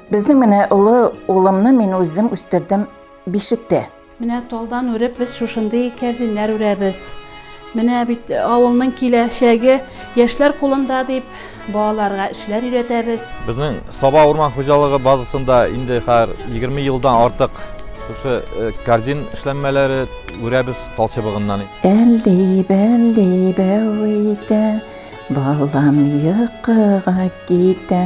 Безнең менә олы улымны мин үзем үстердем бишектә. Менә талдан үреп без шушындый кәрзиннәр үрәбез. Менә бит э, авылның киләчәге яшьләр кулында дип балаларга эшләр өйрәтәбез. Безнең Саба урман хуҗалыгы базасында инде хәзер 20 елдан артык шушы э, кәрзин эшләнмәләре үрәбез тал чыбыгыннан. Әлди, бәлди, бәвитә, балам йокыга китә.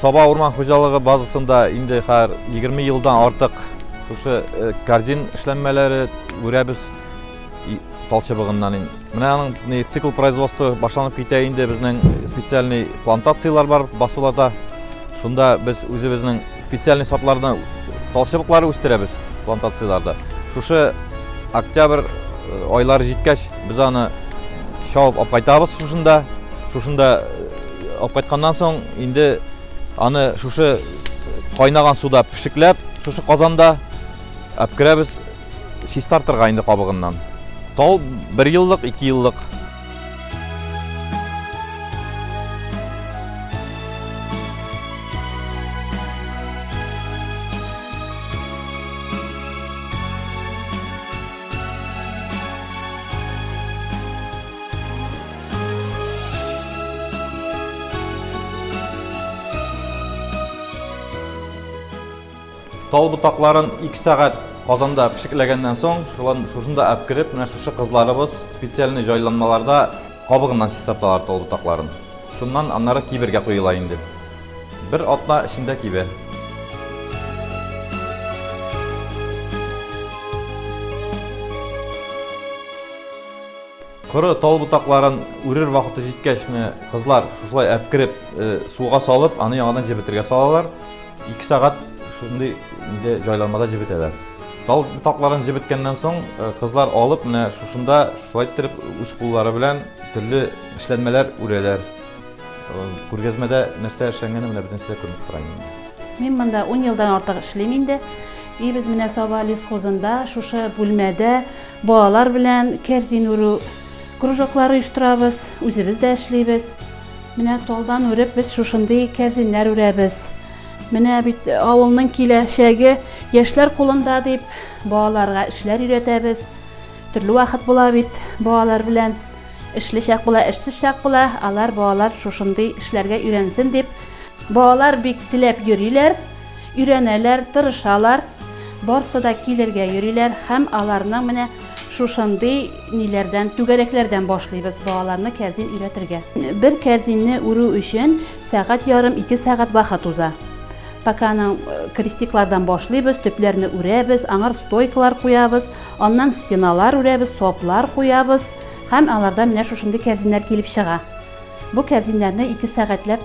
Саба урман хуҗалыгы базасында инде хәзер 20 елдан артык шушы э, кардин эшләнмәләре үрәбез талчыбыгыннан. Менә аның цикл производства башланып китә инде безнең специальный плантациялар бар басуларда. Шунда без үзебезнең специальный сортларны талчыбыклары үстерәбез плантацияларда. Шушы октябрь э, айлары җиткәч без аны чабып апкайтабыз шушында. Шушында э, апкайтканнан соң Инде аны шушы кайнаган суда пешекләп, шушы казанда әпкерәбез чистартырга инде кабыгыннан. Тал бер еллык, ике еллык Тал ботакларын 2 сәгать казанда пешекләгәннән соң, шулан шушында әп кереп, менә шушы кызларыбыз специальный җайланмаларда кабыгыннан чистарталар тал ботакларын. Шуннан аннары кибергә куела инде. Бер атна эчендә кибә. Коры тал ботакларын үрер вакыты җиткәчме, кызлар шушылай әпкереп, суга салып, аны яңадан җебетергә салалар. 2 сәгать шундый инде җайланмада җебетәләр. Тал ботакларын җебеткәннән соң, кызлар алып, менә шушында шулай иттереп үз куллары белән төрле эшләнмәләр үрәләр. Күргәзмәдә нәрсә эшләнгәне менә бөтенесе дә күренеп тора инде. Мин монда ун елдан артык эшлим инде. И без менә Саба лесхозында шушы бүлмәдә Балалар белән кәрзин үрү кружоклары оештырабыз, үзебез дә эшлибез. Менә талдан үреп без шушындый кәрзиннәр үрәбез. Менә бит авылның киләчәге яшьләр кулында дип, балаларга эшләр өйрәтәбез. Төрле вакыт була бит балалар белән. Эшле чак була, эшсез чак була. Алар балалар шушындый эшләргә өйрәнсен дип, балалар бик теләп йөриләр. Өйрәнәләр, тырышалар, барсы да килергә йөриләр һәм аларның менә шушындый ниләрдән, түгәрәкләрдән башлыйбыз балаларны кәрзин өйрәтергә. Бер кәрзинне үрү өчен сәгать ярым, ике сәгать вакыт уза. Пока аның крестиклардан башлыйбыз, төпләрне үрәбез, аңар стойкалар куябыз, аннан стеналар үрәбез, соплар куябыз һәм алардан менә шушындый кәрзиннәр килеп чыга. Бу кәрзиннәрне ике сәгатьләп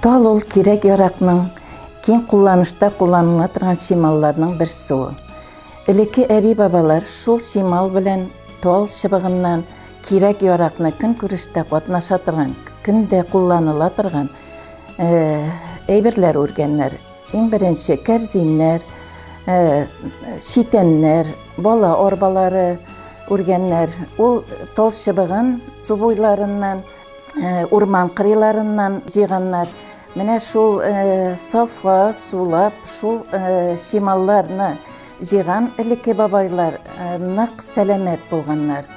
Тал ул кирәк-яракның, киң кулланышта кулланыла торган чималларның бер суы. Элекке әби-бабалар шул чимал белән тал чыбыгыннан кирәк-яракны көнкүрештә катнаша торган, көндә кулланыла торган әйберләр үргәннәр. Иң беренче кәрзиннәр, читәннәр, бала арбалары үргәннәр. Ул тал чыбыгын су буйларыннан, урман кырыйларыннан җыйганнар. Менә шул сафа сулап, шул чималларны җыйган элекке бабайлар нык сәламәт булганнар.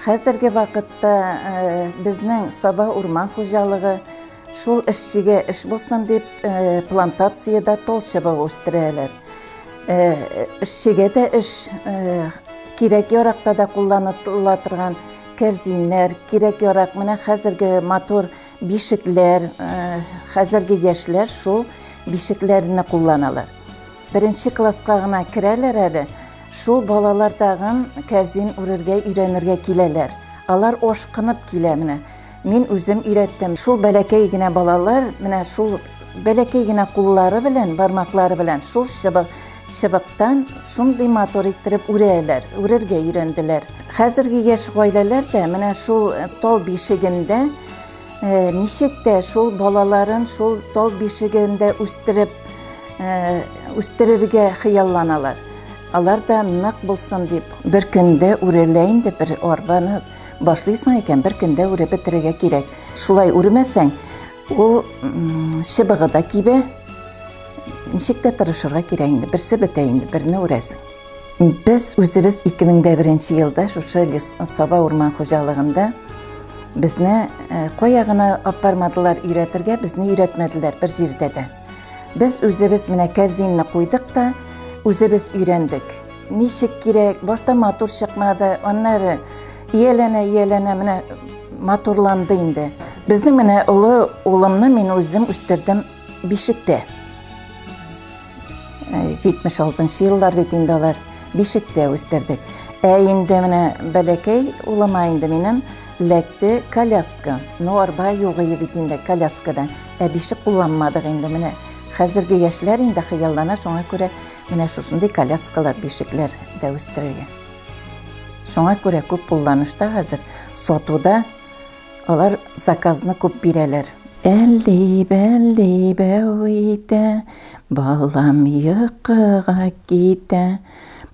Хәзерге вакытта безнең Саба урман хуҗалыгы Шул эшчегә эш булсын дип, э, плантациядә тол чыбыгы үстерәләр. Э, эшчегә дә эш э, кирәк яракта да кулланыла торган кәрзиннәр, кирәк ярак, менә хәзерге матур бишекләр, хәзерге яшьләр шул бишекләрне кулланалар. Беренче класска гына керәләр әле, шул балалар тагын кәрзин үрергә өйрәнергә киләләр. Алар ашкынып килә менә. Мин үзем өйрәттем. Шул бәләкәй генә балалар, менә шул бәләкәй генә куллары белән, бармаклары белән шул чыбык чыбыктан шундый матур иттереп үрәләр, үрергә өйрәнделәр. Хәзерге яшь гаиләләр дә менә шул э, тал бишегендә э, ничек тә шул балаларын шул тал бишегендә үстереп э, үстерергә хыялланалар. Алар да нык булсын дип, бер көндә үрәлә инде бер арбаны Башлыйсың икән, бер көндә үреп бетерергә кирәк. Шулай үрмәсәң, ул чыбыгы да кибә. Ничек тә тырышырга кирәк инде. Берсе бетә инде, берне үрәсең. Без үзебез 2001 елда шушы Саба урман хуҗалыгында безне э, кая гына апармадылар өйрәтергә, безне өйрәтмәделәр бер җирдә дә. Без үзебез менә кәрзинне куйдык та, үзебез өйрәндек. Ничек кирәк, башта матур чыкмады, аннары ияләнә, ияләнә менә матурланды инде. Безнең менә олы улымны мин үзем үстердем бишектә. 76 еллар бит инде алар бишектә үстердек. Ә инде менә бәләкәй улыма инде минем ләкте коляска. Ну арба югы бит инде коляскада. Ә бишек кулланмадык инде, менә хәзерге яшьләр инде хыяллана, шуңа күрә менә шушындый коляскалар, бишекләр дә үстерелгән. Шуңа күрә күп кулланышта хәзер сатуда алар заказны күп бирәләр. Әлли, бәлли, бәү итә, балам йокыга китә.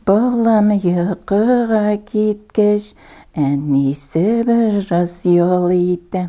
Балам йокыга киткәч, әнисе бераз ял итә.